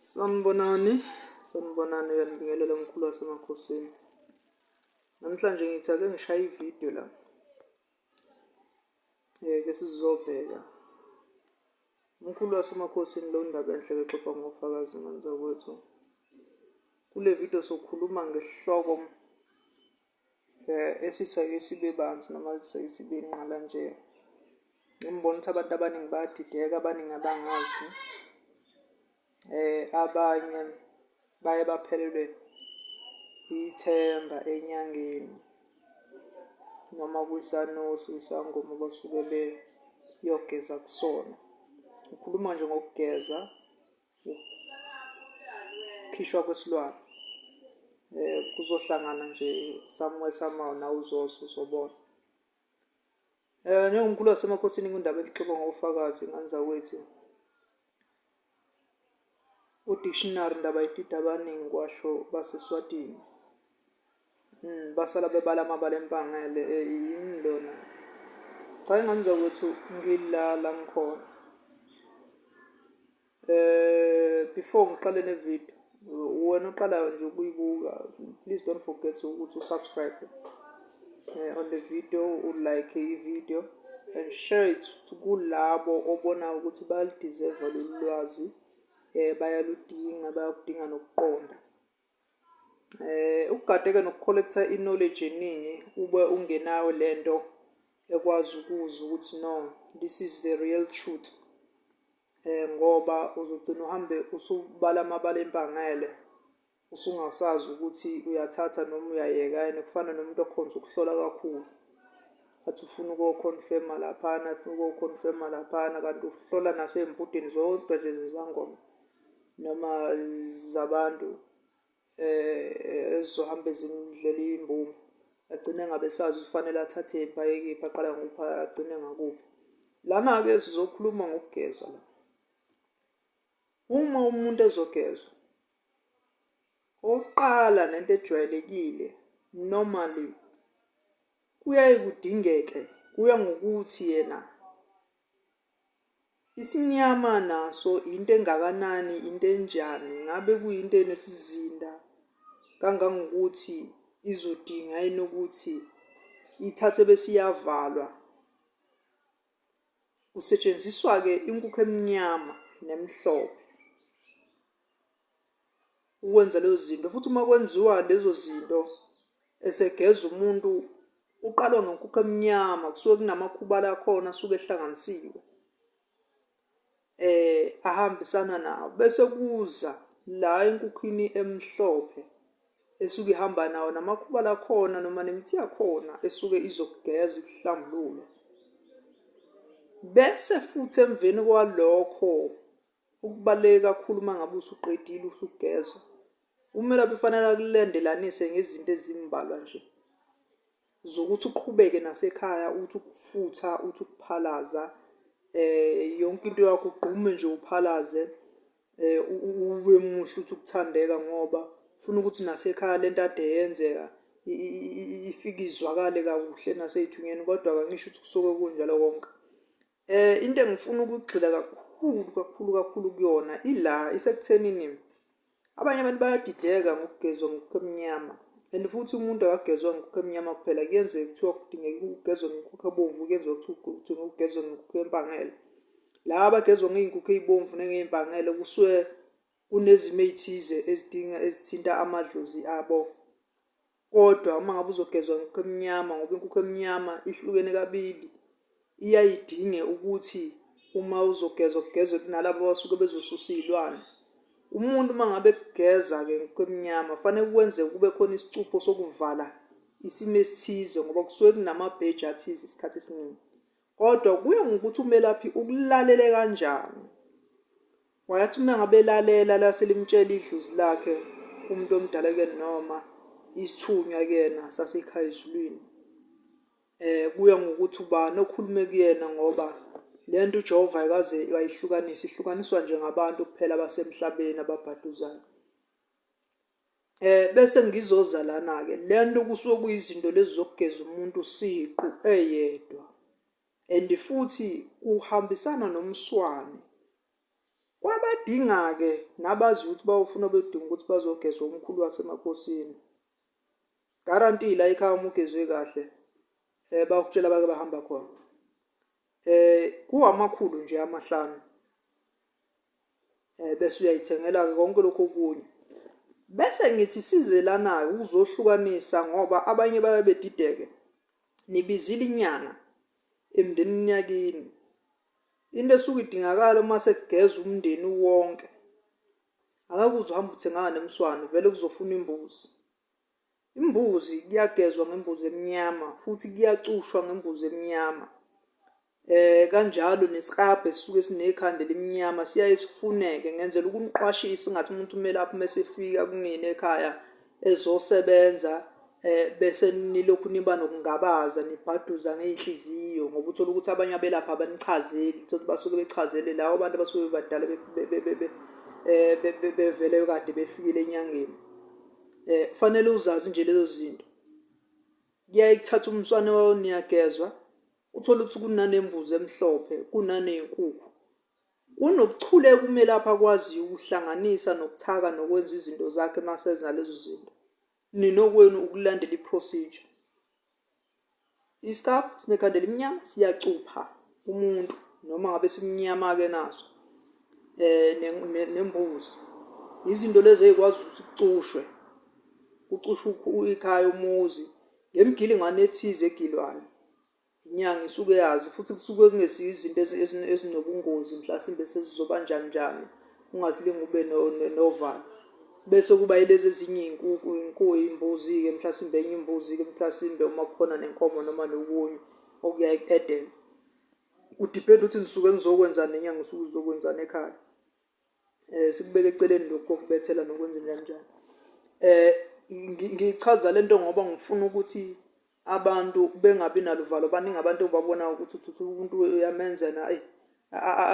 Sanibonani, sanibonani uyanibingelela umkhulu wasemakhosini. Namhlanje ngithi ake ngishaye ividiyo la. Ngeke sizobheka. Umkhulu wasemakhosini lo ndaba enhle exoxa ngofakazi ngani zakwethu. Kule vidiyo sokhuluma ngesihloko Esithi ake sibe banzi noma sithi ake sibe nqala nje, ngimbona ukuthi abantu abaningi bayadideka, abaningi abangazi. Abanye baye baphelelwe ithemba enyangeni noma kwisanuse, isangoma abasuke beyogeza kusona. Ngikhuluma nje ngokugeza. khishwa kwesilwane eh kuzohlangana nje somewhere somehow na uzozo uzobona eh njengomkhulu wasemakhosini kundaba elixoxa ngofakazi nganza kwethu udictionary ndaba idida abaningi kwasho baseswatini Mm, basala bebala amabala empangele eyini eh, lona cha ingane zakwethu ngilala ngikhona eh before ngiqale ne video wena oqalayo nje ukuyibuka please don't forget ukuthi usubscribe eh, on the video ulike i-video and share it kulabo obona ukuthi baludeserve lolu lwazi um bayaludinga bayakudinga nokuqonda Eh ukugadeka noku-collect-a i-knowledge eningi ube ungenayo le nto ekwazi ukuza ukuthi no this is the real truth ngoba uzogcina uhambe usubala amabala empangele usungasazi ukuthi uyathatha noma uyayeka and kufana nomuntu okhonze ukuhlola kakhulu. Athi ufuna uko-confirm-a laphana afuna uko-confirm-a laphana kanti uhlola nasey'mbudeni zodwa nje zezangoma. noma zabantu ezizohambe zimdlela iy'mbumba agcine engabe esazi ukuthi kufanele athathe kuphi aye kephi aqala ngokuphi agcine ngakuphi. Lana-ke sizokhuluma ngokugezwa la. Uma umuntu ezogezwa, okokuqala nento ejwayelekile normally kuyaye kudingeke kuya ngokuthi yena Isimnyama naso yinto engakanani, into enjani, ngabe kuyinto enesizinda kangangokuthi izodinga yini ukuthi ithathwe bese iyavalwa. Kusetshenziswa-ke inkukhu emnyama nemhlophe. ukwenza lezo zinto futhi uma kwenziwa lezo zinto esegeza umuntu uqalwa ngenkukhu emnyama kusuke kunamakhubala akhona asuke ehlanganisiwe eh ahambisana nawo bese kuza la enkukhwini emhlophe esuke ihamba nawo namakhubala akhona noma nemithi yakhona esuke izokugeza ikuhlambulule bese futhi emveni kwalokho Okubaluleke kakhulu uma ngabe usuqedile usugeza, umelaphi kufanele akulandelanise ngezinto ezimbalwa nje zokuthi uqhubeke nasekhaya, uthi ukufutha, uthi ukuphalaza um yonke into yakho ugqume nje uphalaze um ube muhle uthi ukuthandeka ngoba ufuna ukuthi nasekhaya le nto ade yenzeka ifike izwakale kakuhle nasey'thunyeni kodwa-ke angisho ukuthi kusuke kunjalo konke. Eh into engifuna ukugxila kakhulu kakhulu kakhulu kuyona ila isekuthenini abanye abantu bayadideka ngokugezwa ngokukho emnyama and futhi umuntu akagezwa ngokukho emnyama kuphela kuyenzeka kuthiwa kudingeka ukugezwa ngokukho ebomvu kuyenzeka kuthiwa ukugezwa ngokukho empangele laba abagezwa ngey'nkukhu ey'bomvu nengey'mpangele kusuke Kunezimo ey'thize ezidinga ezithinta amadlozi abo kodwa uma ngabe uzogezwa inkukhu emnyama ngoba inkukhu emnyama ihlukene kabili, iyaye idinge ukuthi uma uzogezwa kugezwe nalaba abasuke bezosusa iy'lwane. Umuntu uma ngabe ekugeza-ke inkukhu emnyama kufaneke kwenze kube khona isicupho sokuvala isimo esithize ngoba kusuke kunamabheji athize isikhathi esiningi. Kodwa kuya ngokuthi umelaphi ukulalele kanjani. Wayathi uma ngabe elalela lase limtshela idlozi lakhe umuntu omdala kuyena noma isithunywa kuyena sasekhaya ezulwini. Eh kuya ngokuthi ubani okhulume kuyena ngoba lento uJehova ayikaze wayihlukanisa ihlukaniswa nje ngabantu kuphela abasemhlabeni ababhaduzayo. Eh bese ngizoza lana ke lento kusuke kuyizinto lezi zokugeza umuntu siqu eyedwa. And futhi kuhambisana nomswane. Kwabadingake nabazi ukuthi bawufuna bedinga ukuthi bazogezwa umkhulu wasemakhosini. Guarantee la ekhaya uma ugezwe kahle eh bakutshela bake bahamba khona. Eh kuwamakhulu nje amahlanu. um bese uyayithengela-ke konke lokhu okunye bese ngithi sizelana-ke ukuzohlukanisa ngoba abanye baye bedideke nibizile inyanga emndenini yakini into esuke idingakala uma sekugeza umndeni wonke angeke uze uhambe uthengana nemswane vele kuzofuna imbuzi Imbuzi kuyagezwa ngembuzi emnyama futhi kuyacushwa ngembuzi emnyama. Eh kanjalo nesikrabhe sisuke sinekhanda elimnyama siyaye sifuneke ngenzela ukuniqwashisa ngathi umuntu kumele aphume esefika kunina ekhaya ezosebenza eh bese nilokhu niba nokungabaza nibhaduza ngeinhliziyo ngoba uthola ukuthi abanye abelapha abanichazeli uthola basuke bechazele lawo abantu abasuke badala eh, bevele kade befikile enyangeni. Eh kufanele uzazi nje lezo zinto. Kuyaye kuthathe umswane wawo niyagezwa uthole ukuthi kunanembuzi emhlophe kunanezinkukhu. Kunobuchule kumele apha akwaziyo ukuhlanganisa nokuthaka nokwenza izinto zakhe masenza lezo zinto. Ninokwenu ukulandela i-procedure. Iscab sinekhanda elimnyama siyacupha umuntu noma ngabe simnyama-ke naso um nembuzi izinto lezi ey'kwazi ukuthi kucushwe kucushwe ikhaya umuzi ngemigilingwane ethize egilwayo inyanga isuke yazi futhi kusuke kungesiyo izinto ezinobungozi mhlasimbe sezizoba njani njani. ungasilinga ube novalo bese kuba ilezi ezinye iy'nkuku iy'nku iy'mbuzi-ke mhlasimbe enye imbuzi-ke mhlasimbe uma kukhona nenkomo noma nokunye okuyaye kuedelwe kudipenda ukuthi ngisuke ngizokwenzani nenyanga usuke uzokwenzani ekhaya um sikubeke eceleni lokhu kokubethela nokwenza njani njani um ngichaza le nto ngoba ngifuna ukuthi abantu bengabi naluvalo baningi abantu obabona ukuthi uthutha umuntu uyamenza na eyi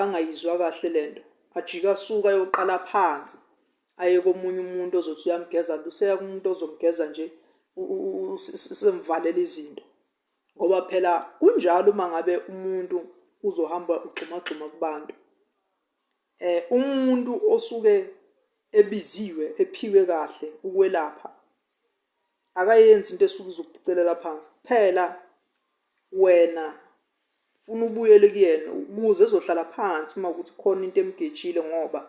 angayizwa kahle le nto ajike asuke ayoqala phansi aye komunye umuntu ozothi uyamgeza nto useya kumuntu ozomgeza nje usemvalela izinto ngoba phela kunjalo uma ngabe umuntu uzohamba ugxumagxuma kubantu eh umuntu osuke ebiziwe ephiwe kahle ukwelapha akayenzi into esuke izokuphicelela phansi kuphela wena funa ubuyele kuyena ukuze ezohlala phansi uma ukuthi khona into emgejile ngoba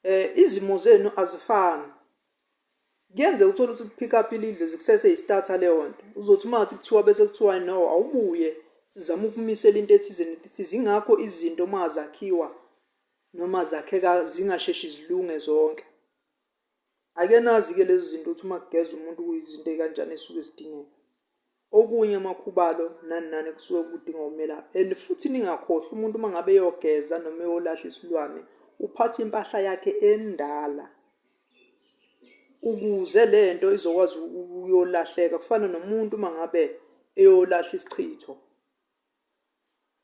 eh izimo zenu azifani kuyenze uthole ukuthi pick up ilidle zikusese istarta leyo nto uzothi uma ngathi kuthiwa bese kuthiwa no awubuye sizama ukumisela into ethizeni ukuthi zingakho izinto uma zakhiwa noma zakheka zingasheshi zilunge zonke Ake nazi-ke lezi zinto ukuthi uma kugeza umuntu kuyizinto ey'kanjani ey'suke zidingeka. Okunye amakhubalo nani nani kusuke kudinga umelaphi and futhi ningakhohlwa umuntu uma ngabe eyogeza noma eyolahla isilwane uphatha impahla yakhe endala ukuze le nto izokwazi ukuyolahleka kufana nomuntu uma ngabe eyolahla isichitho.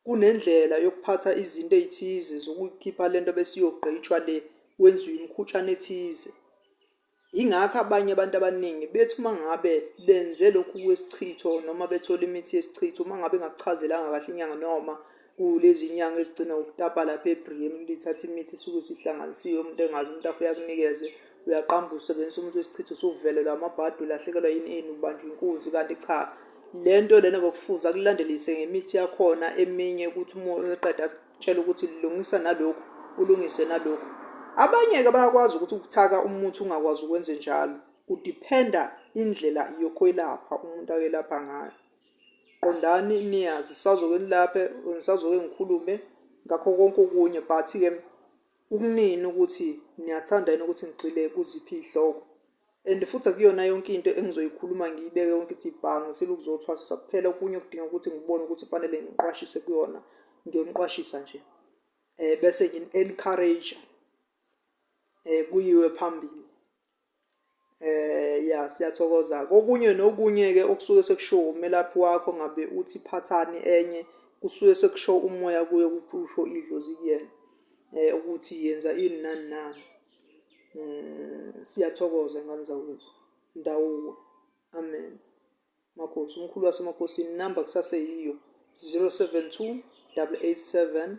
Kunendlela yokuphatha izinto ey'thize zokuyikhipha le nto bese iyogqitshwa le, kwenziwe imikhutshana ethize. Yingakho abanye abantu abaningi bethi uma ngabe benze lokhu kwesichitho noma bethole imithi yesichitho, uma ngabe ingakuchazelanga kahle inyanga noma kulezi nyanga ezigcina ngokutapa lapha ebhriyeni lithathe imithi esuke isihlanganisiwe umuntu engazi umuntu afike akunikeze Uyaqamba usebenzisa umuntu wesichitho usuvelelwa amabhadi ulahlekelwa yini eni ubanjwa inkunzi kanti cha lento lena bokufuza akulandelise ngemithi yakhona eminye ukuthi uma eqeda asitshela ukuthi lungisa nalokhu ulungise nalokhu abanye-ke bayakwazi ukuthi ukuthaka umuthi ungakwazi ukwenze njalo kudiphenda indlela yokwelapha umuntu akelapha ngayo qondani niyazi sazoke nilaphe ngisazoke ngikhulume ngakho konke okunye but-ke Ukunini ukuthi niyathanda yini ukuthi ngigxile kuziphi izihloko. And futhi akuyona yonke into engizoyikhuluma ngiyibeke yonke ithi bha ngisile ukuzothwasisa kuphela okunye okudinga ukuthi ngibone ukuthi kufanele ngiqwashise kuyona ngiyoniqwashisa nje. Eh bese ngini encourage eh kuyiwe phambili. Eh ya siyathokoza kokunye nokunye-ke okusuke sekushiwo umelaphi wakho ngabe uthi phathani enye kusuke sekusho umoya kuye kusho idlozi kuyena um ukuthi yenza ini nani nani. Siyathokoza ngane zakwethu Ndawuwe amen. Makhosi umkhulu wasemakhosini inamba kusaseyiyo zero seven two double eight seven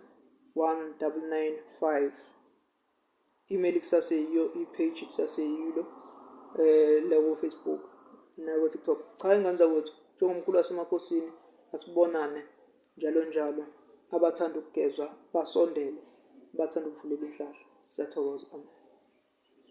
one double nine five. email kusaseyiyo i-page kusaseyilo eh la ku Facebook na ku TikTok cha ingane zakwethu njengomkhulu wasemakosini asibonane njalo njalo abathanda ukugezwa basondele bathanda ukuvulelwa inhlahla siyathokoza amen